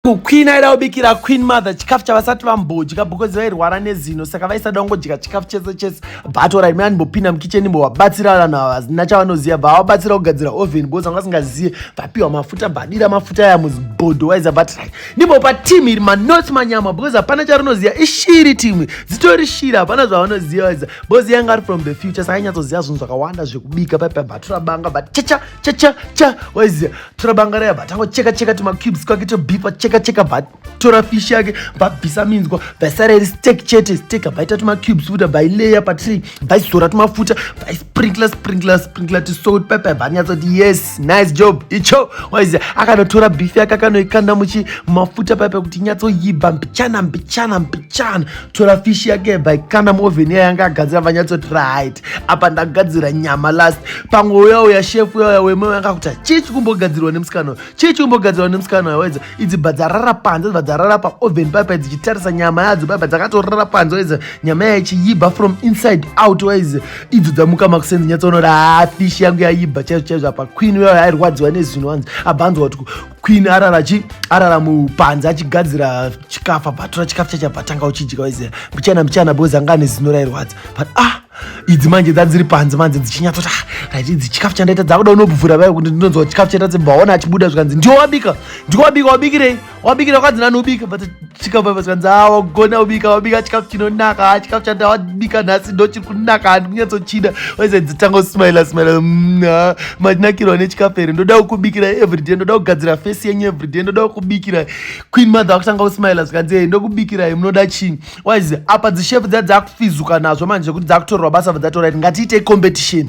Queen aida kubikira Queen Mother chikafu chavasati vambodya because vairwara nezino saka vaisada kungodya chikafu chese chese but orit mai andimbopinda mukicheni mbovabatsira vanhu ava hazina chavanoziva bavabatsira kugadzira oven because vanga vasingazive vapiwa mafuta badira mafuta aya muzibhodho waiza but ri ndimbopa team iri manoti manyama because hapana charinoziva ishiri timwe dzitori shiri hapana zvavanoziva waiza because yanga ari from the future saka inyatsoziva zvinhu zvakawanda zvekubika paipa batura banga but chacha chacha cha waiziva tora banga raya vatanga kucheka cheka tumacubes twake tobhipa cheka cheka vatora fish yake vabvisa minzwa vaisara iri stek chete stek vaita tumacubes futa vaileya patiri vaizora tumafuta vaisprinkla sprinkla sprinkla tisouti paipai vanyatsa kuti yes nice job icho waizi akanotora beef yake akanoikanda muchi mafuta paipai kuti nyatsoyiba mbichana mbichana mbichana tora fish yake by kana moven iya yanga agadzira vanyatsoti right apa ndagadzira nyama last pamwe uya uya shef uya uya wema yanga kuti chii chikumbogadzirwa nemusikana uyo chii chikumbogadzirwa nemusikana uyo wedza idzi bva dzarara panze dzibva dzarara paoven paipa dzichitarisa nyama yadzo paipa dzakatorara panze wedza nyama yaichiyiba from inside out waize idzo dzamuka makusenzi nyatsoonora haa fish yangu yayiba chaizvo chaizvo apa queen uya uya airwadziwa nezino hanzi abva anzwa kuti queen arara chi arara mupanze achigadzira chikafu abvatora chikafu chacho abvatanga uchidya waiziva mbichana mbichana because anga ane zino rairwadza but ah idzi manje dzadziri panze manje dzichinyatsoti ah, right idzi chikafu chandaita dzakuda unobvura vayo kuti ndinonzwa chikafu chaita dzibvaona achibuda zvikanzi ndiwo wabika ndiwo wabika wabikirei wabikira kwadzi nani ubika but chikafu paipa chikanzi a wagona ubika wabika chikafu chinonaka ha chikafu chanda wabika nhasi ndo chiri kunaka handi kunyatsochida waisadzidzitanga kusmaila smaila mm, matinakirwa nechikafu here ndoda kukubikira everyday ndoda kugadzira fesi yenyu everyday ndoda kukubikira queen mother wakutanga kusmaila zvikanzi e ndokubikirai munoda chii waizi apa dzishefu dzaa dzakufizuka nazvo manje zvekuti dzakutorerwa basa vadzatorit ngatiitei competition